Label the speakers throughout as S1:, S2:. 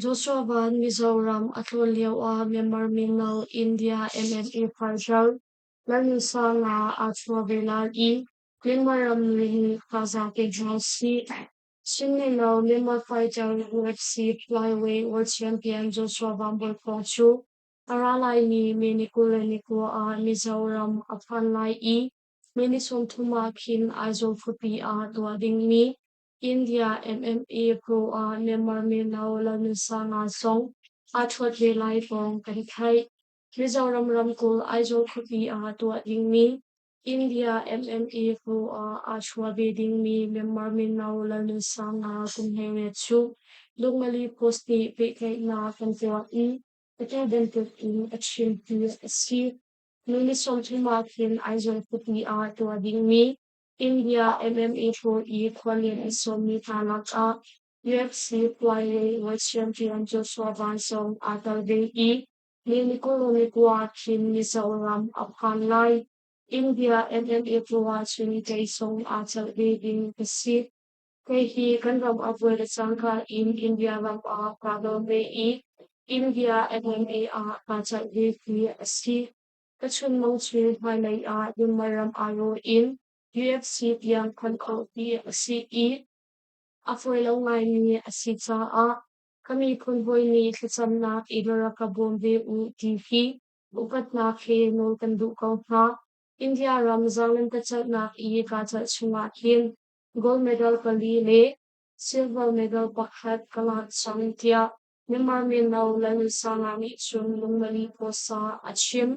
S1: Joshua Ban Mizoram a tlun lio ah Myanmar mino India MNA partner Lalnusa Nga aa chuah ve lai i Myanmar ramri nih thazaang pe hna u sih. Sinilo Lima fighter UFC flyweight world champion Joshua Vambor Pong cu a ra laimi Menikku le Nikkua ah Mizoram a phan lai i minisum thum ah khin Aizawl khuapi ah tuah dingmi India MMA pro ah Myanmar mino Lalnunsanga zong aa thuat ve lai pawng kan theih. Mizoram ramkulh Aizawl khuapi ah tuah dingmi India MME hnu ah aa chuah ve dingmi Myanmar mino lalnunsang hna kum hleiriat chung Lungmali Post nih pehtlaihnak kan tuah i atu bantuk in a chim ti a si. Nu ni sawmthum ah khin Aizawl khupi ah tuah dingmi India MME hnu i khuallian a sawmmi hna lakah UFC flyweight champion Joshua Van Song aa tel ve i Helicolemicua Chin Mizoram a phan lai. India NMF ruahcun teisong aa celh ve ding ka si. Kei hi kan ram a vuai le cangka in India ram ah kaa dawm ve i, India NMA ah kaa celh ve khi a si. Ka chun mong chun hmailei ah Dunmar ram aa raw in UFC tiang khon khawh ti a si i, a fawi lo ngaimi a si caah Ka miphun hawi nih thlacamnak i dora ka bawm ve u ti hi upatnak he nawl kan duh ko hna. India ram Zarlantacelhnak i ka celh chungah hin gold medal pali le silver medal pakhat ka ngah cang tiah Myanmar Mino Lalnusanga nih cun lungmali pawsa a chim.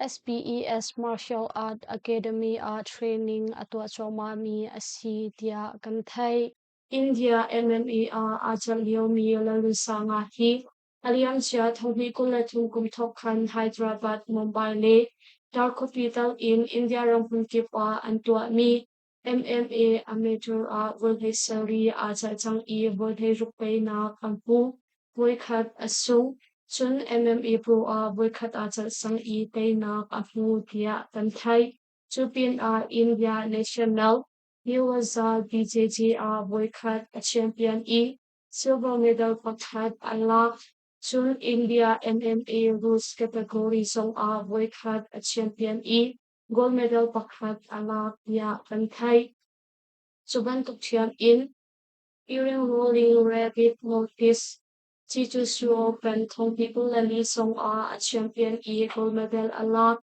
S1: SPES Martial Art Academy ah training a tuah cuahmahmi a si tiah kan theih. India MMA ah aa cang liomi Lalunsanga hi a liamcia thohmi kum le thum kum thawk khan Hyderabad, Mumbai le Darkhopitang in India ramhmun kip ah an tuahmi MMA amateur ah volhlei sari aa celh cang i volhlei rukpeinak an hmuh. Voikhat a sung. Cun MMA pro ah voikhat aa celh cang i teinak a hmu tiah kan theih. Cu pinah India National Newazza BJJ ah voikhat a champion i silver medal pakhat an lak. Cun India MMA rules category zong ah voikhat a champion i gold medal pakhat a lak tiah kan theih. Cu bantuk thiam in Earing Rolling Rabbit Notice Chichusuo kan Thongpi Kulali song ah a champion i gold medal a lak.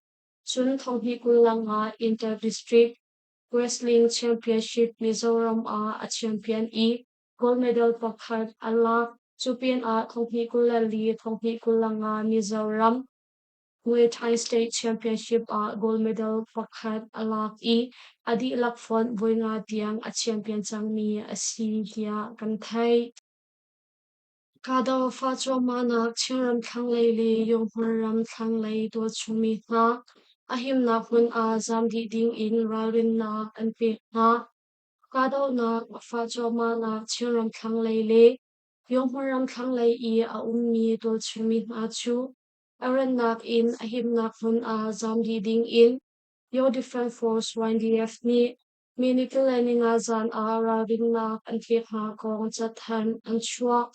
S1: Cun Thongpi Kulanga Inter District Wrestling Championship Mizoram ah a champion i gold medal pakhat a lak. Cu pin ah Thongpi Kulali Thongpi Kulanga Mizoram Kuwait Tri-State Championship ah gold medal pakhat a lak i a dihlak font voi nga tiang a champion cangmi a si tiah kan theih. Kahdofa cuahmahnak Chinram thlanglei le Yonghmar ram thlanglei tuah chungmi hna a himnak hmun ah zam dih ding in ralrinnak an pek hna. Kahdohnak fa cuahmahnak Chinram thlanglei le Yonghmar ram thlanglei i a ummi tuah chungmi hna cu A rannak in a himnak hmun ah zam dih ding in Your Defence Force YDF nih Minute le ningazan ah ralrinnak an pek hna kong cathanh an chuah.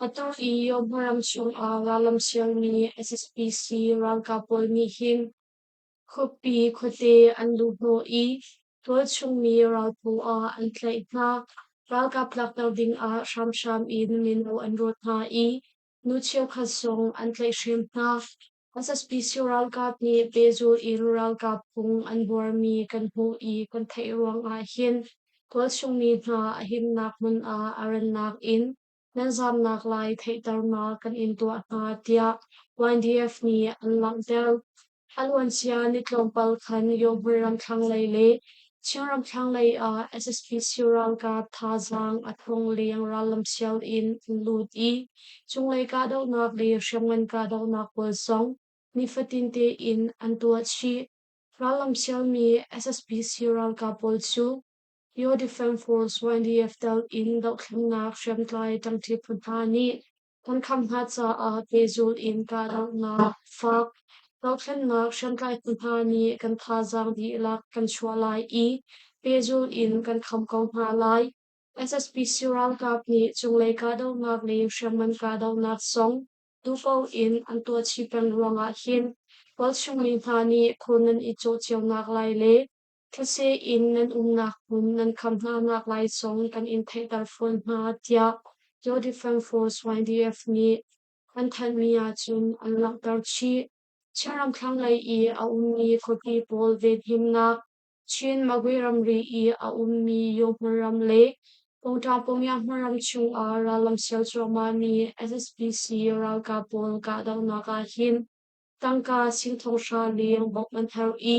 S1: Atu i Yomharam chung ah rallam sialmi SSPC ralkap pawl nih hin khuapi khuate an luh hnawh i tualchungmi ralphu ah an tlaih hna. Ralkap lakter ding ah hramhram in mino an rawt hna i Nu cheukhat zong an tlaih hrim hna. SSPC ralkap nih pehzul in ralkap phung an buarmi kan hmuh i kan theih ruangah hin tualchungmi hna a himnak hmun ah a rannak in nan zamnak lai theihternak kan in tuah hna tiah YDF nih an langhter. Aluancia ni tlawmpal khan Yohbui ram thlanglei le Chin ram thlanglei ah SSPC ralkap thazaang a thong leng rallam siang in an lut i cunglei kahdohnak le hriamngan kahdohnak pawl zong nifatin tein an tuah chih. Rallam siangmi SSPC ralkap pawl cu Yo Defense Force YDF tel in dohthlennak hriamtlai ṭangṭi phu hna nih Kan khamh hna caah pehzulh in kahdohnak, fak, dohthlennak hriamtlaitu hna nih kan thazaang dihlak kan chuah lai i pehzulh in kan khamh ko hna lai. SSPC ralkap nih cunglei kahdohnak le hriamngan kahdohnak zong dupo in an tuah chih peng ruangah hin tualchung mi hna nih khun an i cawh cionak lai le Thetse in nan umnak hmun nan kham hnanak lai zong kan in theihter fawn hna tiah Law Defence Force YDF nih an thanhmi ahcun an langhter chih. Chin ramthlang lei i a ummi khuapi pawl venhimnak, Chin Magwe ramri i a ummi Yohmar ram le Kota Pongya-Hmar ram chung ah rallam sial cuahmahmi SSPC ralkap pawl kahdohnak ahhin tangka singthong hra leng bawmh an herh i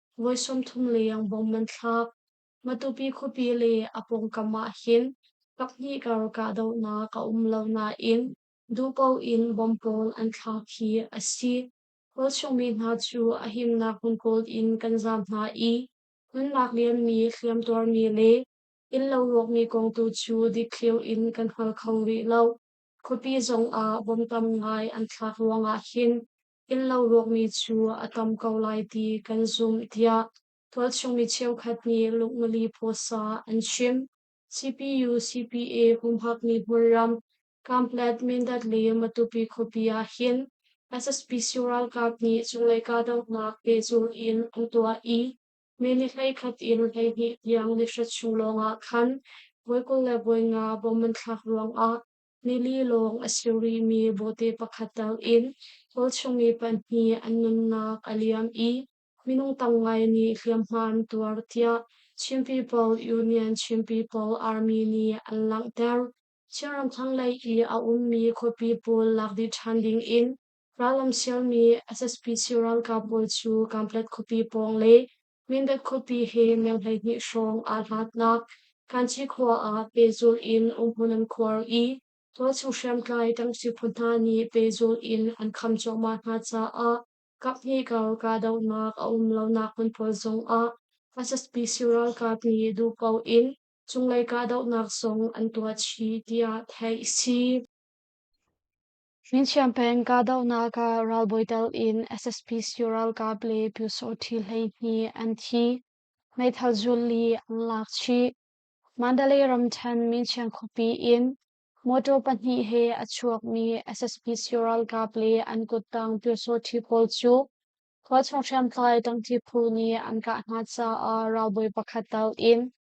S1: Voi sawmthum leng bom an thlak. Matupi khuapi le a pawngkam ah hin pakhnih kar kahdohnak a um lo nain duhpo in bom pawl an thlak hi a si. Kawlchungmi hna cu a himnak hmun kawl in kan zaam hna i hmunnak lianmi hliamtuarmi le innlo ruakmi kong tu cu dikthliu in kan hngal kho rih lo. Khuapi zong ah bom tam ngai an thlak ruangah hin Innlo ruakmi cu a tam ko lai ti kan zumh tiah tualchungmi cheukhat nih lungmali phaisa an chim. CPU CPA humhak nih hmunram Kamplet Mindat le Matupi khuapi ah hin SSPC ralkap nih cunglei kahdohnak pehzulh in an tuah i mini hleikhat in hleihnih tiang nihra chung lawng ah khan voi kul le voi nga bomb an thlak ruang ah Nili lawng a si rihmi bote pakhat takin kawlchung i pahnih an nunnak a liam i minung tam ngai nih hliamhma an tuar tiah Chin People Union Chin People Army nih an langhter. Chinram thlanglei i a ummi khuapi pawl lak dih ṭhan dingin rallam sialmi SSPC ralkap pawl cu Kamplet khuapi pawng le Mindat khuapi he mil hleihnih hrawng aa hlatnak Kanchi khua ah pehzulh in umhmun an khuar i tualchung hriamtlai tamsi phu hna nih pehzulh in an kham cuahmah hna caah kaphnih-kal kahdohnak a um lonak hmun pawl zongah SSPC ralkap nih duh paoh in cunglei kahdohnak zong an tuah chih tiah theih a si. Hringchiam peng kahdohnak ah ralbawi telh in SSP siyu ralkap le Pyusawhti hleihnih an thi. Meithal zul li an lak chih. Mandalay ramthen Mingchiang khuapi in motor pahnih he a chuakmi SSP siyu ralkap le an kuttang Pyusawhti pawl cu khua chung hriamtlai tangti phu nih an kah hna caah ralbawi pakhat telh in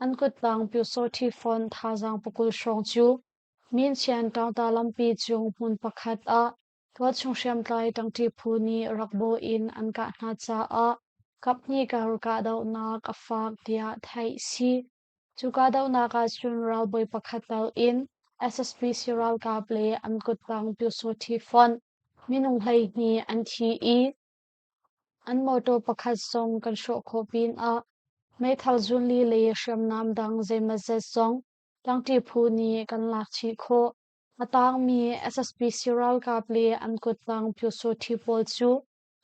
S1: An kuttang Pyusawhti Fon thazaang pakul hrawng cu Minchian ṭangta lampi cung hmun pakhat ah tualchung hriamtlai ṭangṭi phu nih rak bawh in an kah hna caah kaphnih kar kahdohnak a faak tiah theih a si. Cu kahdohnak ahcun ralbawi pakhat tal in SSP siralkap le an kuttang Pyusawhti Fon minung hleihnih an thi i An mawṭaw pakhat zong kan hrawh khawh pin ah meithal zunli le hriamnam dang zeimazet zong tlangṭi phu nih kan lak chih khawh. A taangmi SSPC ralkap le an kuttang pyusawṭhi pawl cu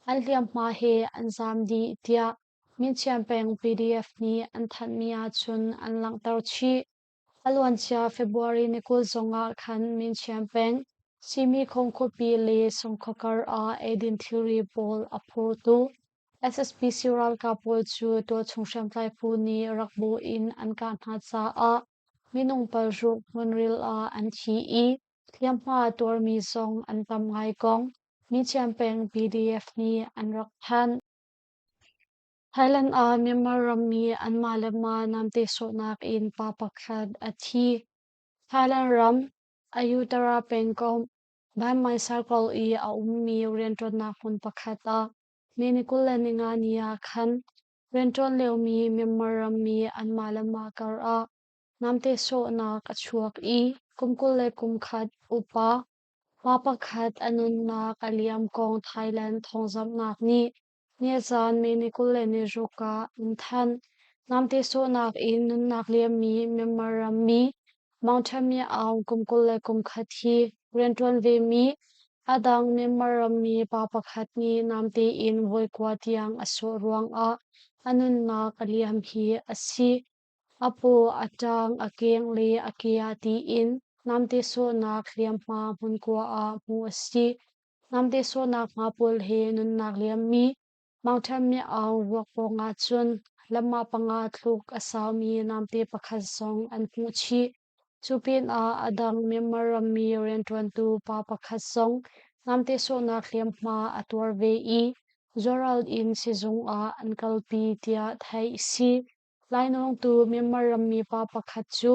S1: an hliamhma he an zaam dih tiah Min Chian peng PDF nih an thanhmi ahcun an langhter chih. A luancia February ni kul zong ah khan Minchian peng Simikhong khuapi le Songkhawkar ah eidin thilri pawl a phurtu SSPC ralkap pawl cu tualchung hriamtlai phu nih rak bu in an kah hna caah minung palhruk hmunril ah an thi i hliamhma tuarmi zong an tam ngai kong Minchian peng PDF nih an rak thanh. Thailand ah Myanmar rammi anmah le mah namte sawhnak in pa pakhat a thi. Thailand ram Ayutthaya pengkomh Banmai Circle i a ummi rianṭuannak hmun pakhat ah Miningkul le Ningani ah khan rianṭuan liomi Myanmar rammi anmah le mah karah namte sawhnak a chuak i kum kul le kum khat upa pa pakhat a nunnak a liam kong Thailand thawngzamhnak nih Ni a caan me ni kul le ni ruk ah an thanh. Namte sawhnak in nunnak liammi Myanmar rammi Mountaimeow kum kul le kum khat hi rianṭuan vemi a dang Myanmar rammi pa pakhat nih namte in voi kua tiang a sawh ruangah a nunnak a liam hi a si. A paw a ṭang a keng le a kea tiin namte sawhnak hliamhma hmunkua ah hmuh a si. Namte sawhnak hma pawl he nunnak liammi mangṭham miau vuak pawng ahcun lamma panga thluk a saumi namte pakhat zong an hmuh chih. Cu pinah a dang Myanmar rammi rianṭuantu pa pakhat zong namte sawhnak hliamhma a tuar ve i zualral in sizung ah an kalpi tiah theih a si. Lainawng tu Myanmar rammi pa pakhat cu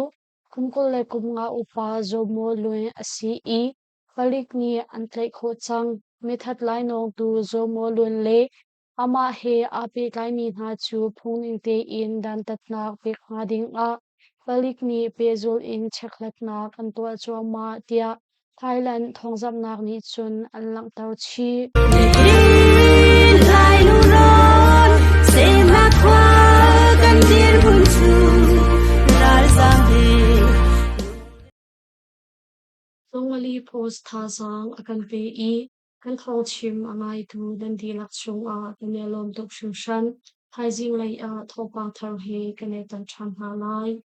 S1: kum kul le kum nga upa Zomaw Lwe a si i palik nih an tlaih khawh cang. Mithat lainawng tu Zomaw Lwe le amah he aa pehtlaimi hna cu phungning tein dantatnak pek hnga ding ah palik nih pehzul in checkhlatnak an tuah cuahmah tiah Thailand thawngzamhnak nih cun an langhter chih. Nihin lai lurawn sehna khua kan dirhmun cu ralzaam he Songali Post thazaang a kan pe i kan thawngchim a ngaitu kan dihlak chungah kan i lawm tuk hringhran. Thaizing lei ah thawngpang thar he kan i tan ṭhan hna lai.